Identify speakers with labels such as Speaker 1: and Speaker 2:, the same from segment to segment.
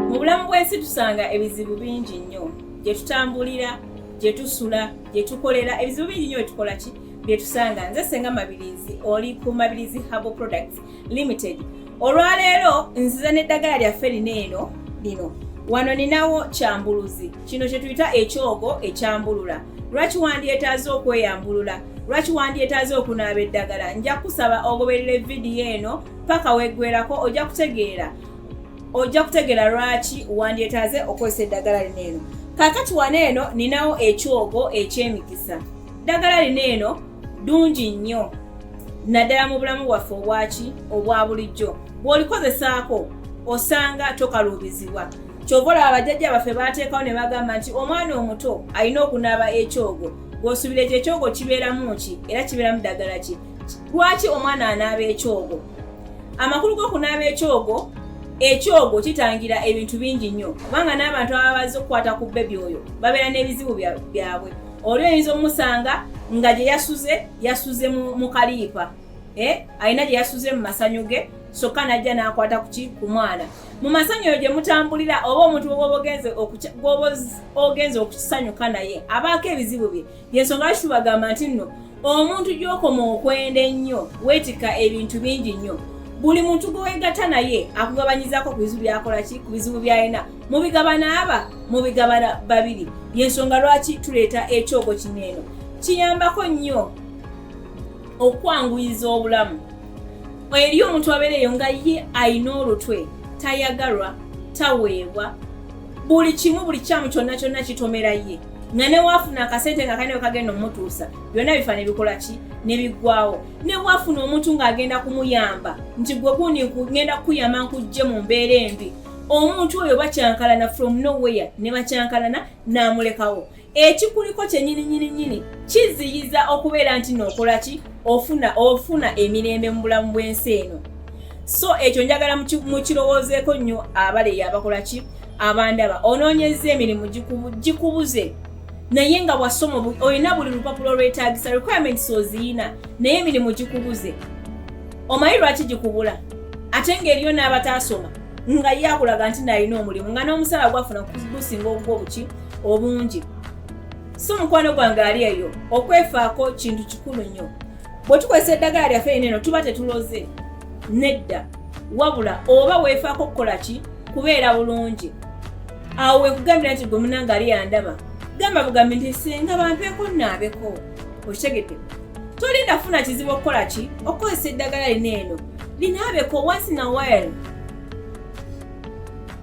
Speaker 1: mu bulamu bw'ensi tusanga ebizibu bingi nnyo gye tutambulira gye tusula gye tukolera ebizibu bingi nnyo byetukola ki bye tusanga nze senga mabirizi oli ku mabirizi habo products limited olwaleero nziza n'eddagala lyaffe lino eno lino wano ninawo kyambuluzi kino kyetuyita ekyogo ekyambulula lwaki wandyetaaze okweyambulula lwaki wandyetaaze okunaaba eddagala nja kusaba ogoberera evidiyo eno paka weggwerako ojja kutegeera ojja kutegeera lwaki wandyetaaze okozesa eddagala lino eno kakati wano eno ninawo ekyogo ekyemikisa ddagala lino eno dungi nnyo naddala mu bulamu bwaffe obwaki obwa bulijjo bw'olikozesaako osanga tokaluubizibwa kyova olaba bajjajja baffe baateekawo ne bagamba nti omwana omuto alina okunaaba ekyogo gw'osuubira ekyo ekyogo kibeeramu ki era kibeeramu ddagala ki lwaki omwana anaaba ekyogo amakulu g'okunaaba ekyogo ekyogo kitangira ebintu bingi nnyo kubanga n'abantu ababa bazze okukwata ku bebi oyo babeera n'ebizibu byabwe oli oyinza omusanga nga gye yasuze yasuze mu kaliipa eh, alina gye yasuze mu masanyu ge sokka n'ajja n'akwata kuki ku mwana mu masanyu eyo gye mutambulira oba omuntu gwoba ogenze okukisanyuka naye abaako ebizibu bye yensonga lwaki tubagamba nti nno omuntu gyokoma okwenda ennyo weetika ebintu bingi nnyo buli muntu gwe weegata naye akugabanyizaako ku bizibu byakola ki ku bizibu byalina mubigabana aba mubigabana babiri yensonga lwaki tuleeta ekyogo kino eno kiyambako nnyo okwanguyiza obulamu eri omuntu abeereyo nga ye alina olutwe tayagalwa taweebwa buli kimu buli kyamu kyonna kyonna kitomera ye nga newafuna akasente kakane wekagenda omutuusa byonna bifa nebikola ki nebiggwawo newafuna omuntu ng'agenda kumuyamba nti gwe gundi ngenda kukuyamba nkujje mu mbeera embi omuntu oyo bakyankalana from nowhere ne bakyankalana n'amulekawo ekikuliko kyenyini nyini nyini kiziyiza okubeera nti nokola ki ofuna ofuna emirembe mu bulamu bw'ensi eno so ekyo njagala mukirowoozeeko nnyo abaleyo abakola ki abandaba onoonyezza emirimu gikubuze naye nga wasoma olina buli lupapula olwetagisa requirements oziyina naye emirimu gikubuze omanyi lwaki gikubula ate ngaeriyo n'abataasoma nga ye akulaga nti nalina omulimu nga n'omusala gwafuna gusinga ogwo obuki obungi si omukwano gwange ali eyo okwefaako kintu kikulu nnyo bwe tukozesa eddagala lyaffe eno eno tuba tetuloze nedda wabula oba weefaako okukola ki kubeera bulungi awo wekugambira nti gwe munange ali yandaba gamba bugambi nti singa bampeeko naabeko okitegedde tolinda funa kizibu okukola ki okukozesa eddagala lino eno linaabeko once in a while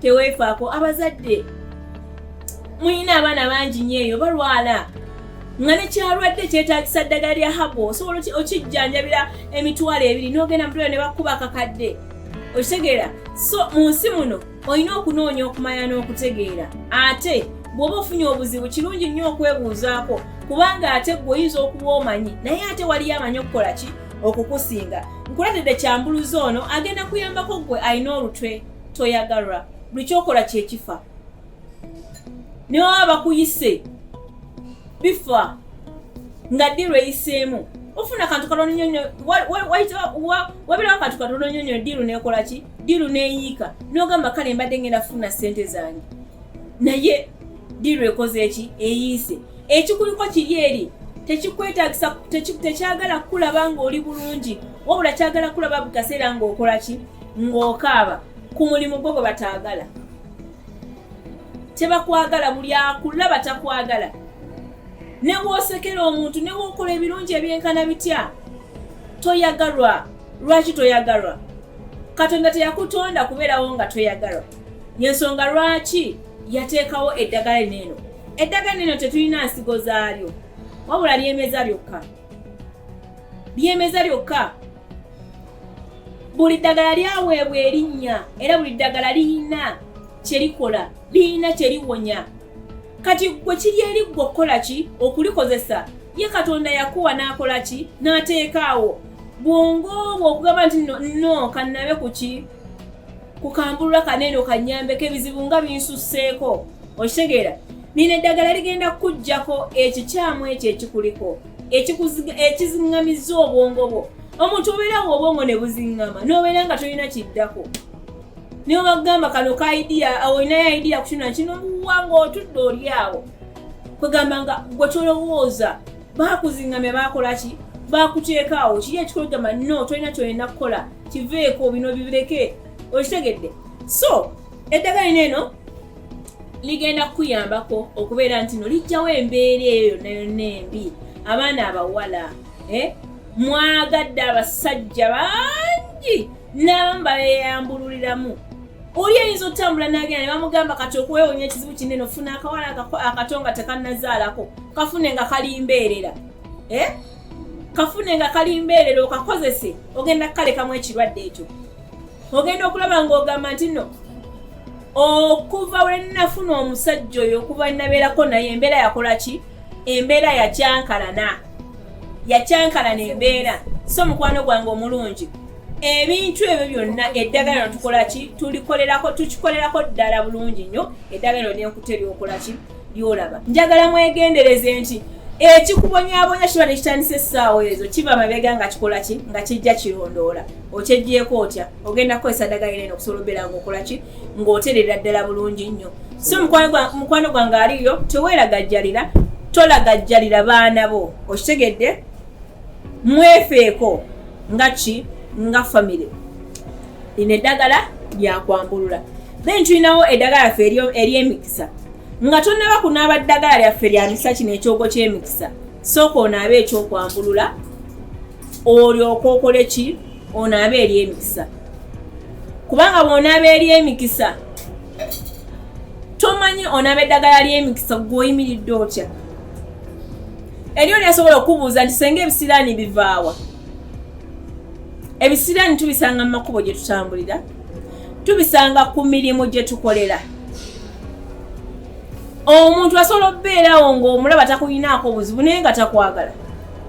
Speaker 1: teweefaako abazadde mulina abaana bangi nyo eyo balwala nga nekyalwadde kyetagisa ddagala lya habo osobola okijjanjabira emitwalo ebiri nogenda mutwalo ne bakuba kakadde okitegeera so mu nsi muno olina okunoonya okumanya n'okutegeera ate bw'oba ofunye obuzibu kirungi nnyo okwebuuzaako kubanga ate gwe oyinza okuba omanyi naye ate waliyo amanyi okukola ki okukusinga nkuletedde kyambuluzi ono agenda kuyambako gwe alina olutwe toyagalwa buli kyokola kyekifa ne baba bakuyise bifa nga ddi lweyiseemu ofuna kantu katono nyonyo wabirawo kantu katono nyonyo diru nekola ki diru neyiika nogamba kale mbadde ngenda funa sente zange naye diru ekoze eki eyiise ekikuliko kiri eri tekikwetagisa tekyagala kukulaba ngaoli bulungi wabula kyagala kulaba bukaseera ngaokola ki ng'okaaba ku mulimu gwo gwe bataagala tebakwagala buli akulaba takwagala nebwosekera omuntu nebwokola ebirungi ebyenkana bitya toyagalwa lwaki toyagalwa katonda teyakutonda kubeerawo nga toyagalwa yensonga lwaki yateekawo eddagala eneeno eddagala eno tetulina nsigo zaalyo wabula lyemeza lyokka lyemeza lyokka buli ddagala lyaweebwa erinnya era buli ddagala liyina kyerikola liyina kyeriwonya kati gwe kiri eri gwe okukola ki okulikozesa ye katonda yakuwa n'akola ki n'ateekaawo bwongo obwo okugamba nti no kannabe ku ki kukambulula kaneeno kanyambeko ebizibu nga binsusseeko okitegeera nina eddagala ligenda kukuggyako ekikyamu ekyo ekikuliko ekiziŋŋamizza obwongo bwo omuntu obeera nga obwongo ne buziŋŋama n'obeera nga tolina kiddako niwe bagamba kano ka idiya olinayo idiya kukino nakino muwa ngaotudde oli awo kwegamba nga gwe tolowooza bakuziŋŋamya bakola ki bakuteeka awo kiri ekikologamba no tolina kyolina kukola kiveeko bino bibireke okitegedde so eddagala lino eno ligenda kukuyambako okubeera nti no lijjawo embeera eyo yonna yonna embi abaana abawala eh, mwagadde abasajja bangi n'abamu babeyambululiramu oli eyinza otambula nagenda nebamugamba kati okuwewonya ekizibu kinene ofuna akawala akato nga tekanazaalako kafune nga kalimbeerera eh? kafune nga kalimbeerera okakozese ogenda kukalekamu ekirwadde ekyo ogenda okulaba ng'ogamba nti no okuva we nafuna omusajja oyo okuva nabeerako naye embeera yakola ki embeera yakyankalana yakyankalana embeera so mukwano gwange omulungi ebintu ebyo byonna eddagala no tukola ki tulikolerako tukikolerako ddala bulungi nnyo eddagala no lyenkuta eryokola ki byolaba njagala mwegendereze nti ekikubonyabonya kiba nekitandisa essaawa ezo kiva mabega nga kikola ki nga kijja kirondoola okyegyeko otya ogenda kukozesa ddagala eno okusobola obeera nga okola ki ng'oterera ddala bulungi nnyo so mukwano gwange aliyo teweeragajjalira tolagajjalira baana bo okitegedde mwefeeko nga ki nga famire lino eddagala lyakwambulula then tulinawo eddagala ffe eryemix nga tonnaba kunaaba ddagala lyaffe lya misa kino ekyogo ky'emikisa sooka onaabe ekyokwambulula olyoka okole ki onaabe eri emikisa kubanga bwonaaba eri emikisa tomanyi onaaba eddagala ly'emikisa gweoyimiridde otya eriyo lyasobola okubuuza nti senga ebisiraani bivaawa ebisiraani tubisanga mu makubo gye tutambulira tubisanga ku mirimu gye tukolera omuntu asobola okubeerawo ng'omulaba takulinaako obuzibu naye nga takwagala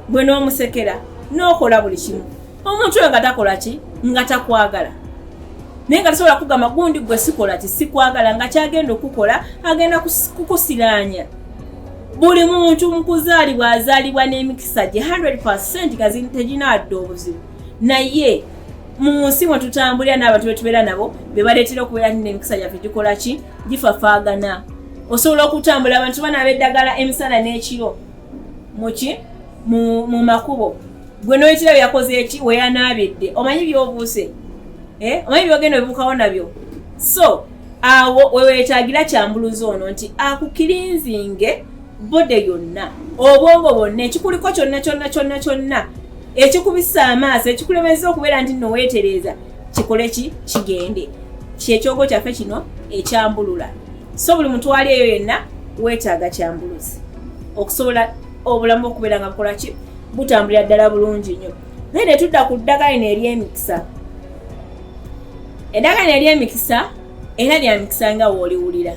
Speaker 1: gwe n'omusekera n'okola buli kimu omuntu oyo nga takola ki nga takwagala naye nga tasobola kugamba gundi gwe sikola ti sikwagala nga kyagenda okukola agenda kukusiraanya buli muntu mukuzaalibwa azaalibwa n'emikisa gye 100 gazi teginaadda obuzibu naye mu nsi mwe tutambulira n'abantu betubeera nabo bebaleetera okubeera ti n'emikisa gyaffe gikola ki gifafaagana osobola okutambula abantu banaaba eddagala emisana n'ekiro muki mu makubo gwe noyitira byeyakoze eki weyanaabidde omanyi byobuuse eh? omanyi byogenda obibukawo nabyo so awo wewetagira kyambuluzi ono nti akukirinzinge bode yonna obwongo bwonna ekikuliko kyonna kyonna kyonna kyonna ekikubisa amaaso ekikulemeza okubeera nti no weetereeza kikole ki kigende kyekyogo kyaffe kino ekyambulula so buli mutwali eyo yenna weetaaga kyambuluzi okusobola obulamu okubeera nga bukola ki butambulira ddala bulungi nnyo naye netudda ku ddagala ino eryemikisa Eddagala ery'emikisa era lya mikisa nga wooliwulira.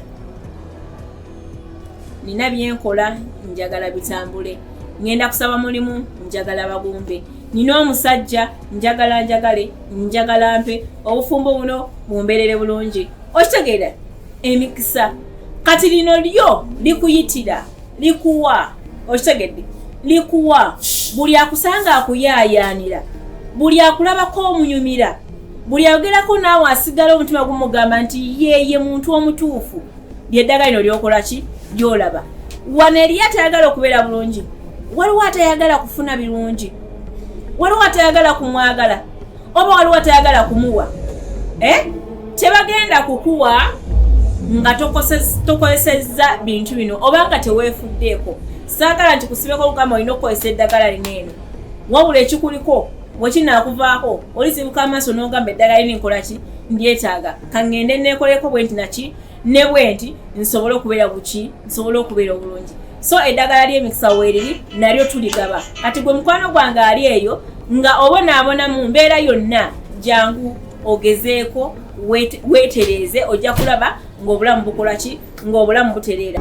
Speaker 1: Nina byenkola njagala bitambule. Ngenda kusaba mulimu njagala bagumbe. Nina omusajja njagala njagale njagala mpe obufumbo buno bumbeerere bulungi. Okitegeera emikisa kati lino lyo likuyitira. likuwa okitegedde likuwa buli akusanga akuyaayaanira buli akulabako omunyumira buli ayogerako naawe asigala omutima gumugamba nti yeye muntu omutuufu lyeddagala lino lyokola ki lyolaba wano eriyo atayagala okubeera bulungi waliwo atayagala kufuna birungi waliwo atayagala kumwagala oba waliwo atayagala kumuwa eh? tebagenda kukuwa nga tokozesezza bintu bino oba nga teweefuddeeko saagala nti kusibeko lugamba olina okukozesa eddagala lino eno wabula ekikuliko wekinakuvaako olizibuka amaaso n'ogamba eddagala lino nkolaki ndyetaaga kaŋŋende neekoleko bwe nti naki ne bwenti nsobole okubeera buki nsobole okubeera obulungi so eddagala ly'emikisa weeriri nalyo tuligaba kati gwe mukwano gwange ali eyo nga obonaabona mu mbeera yonna jangu ogezeeko weetereeze ojja kulaba ng'obulamu bukola ki ng'obulamu butereera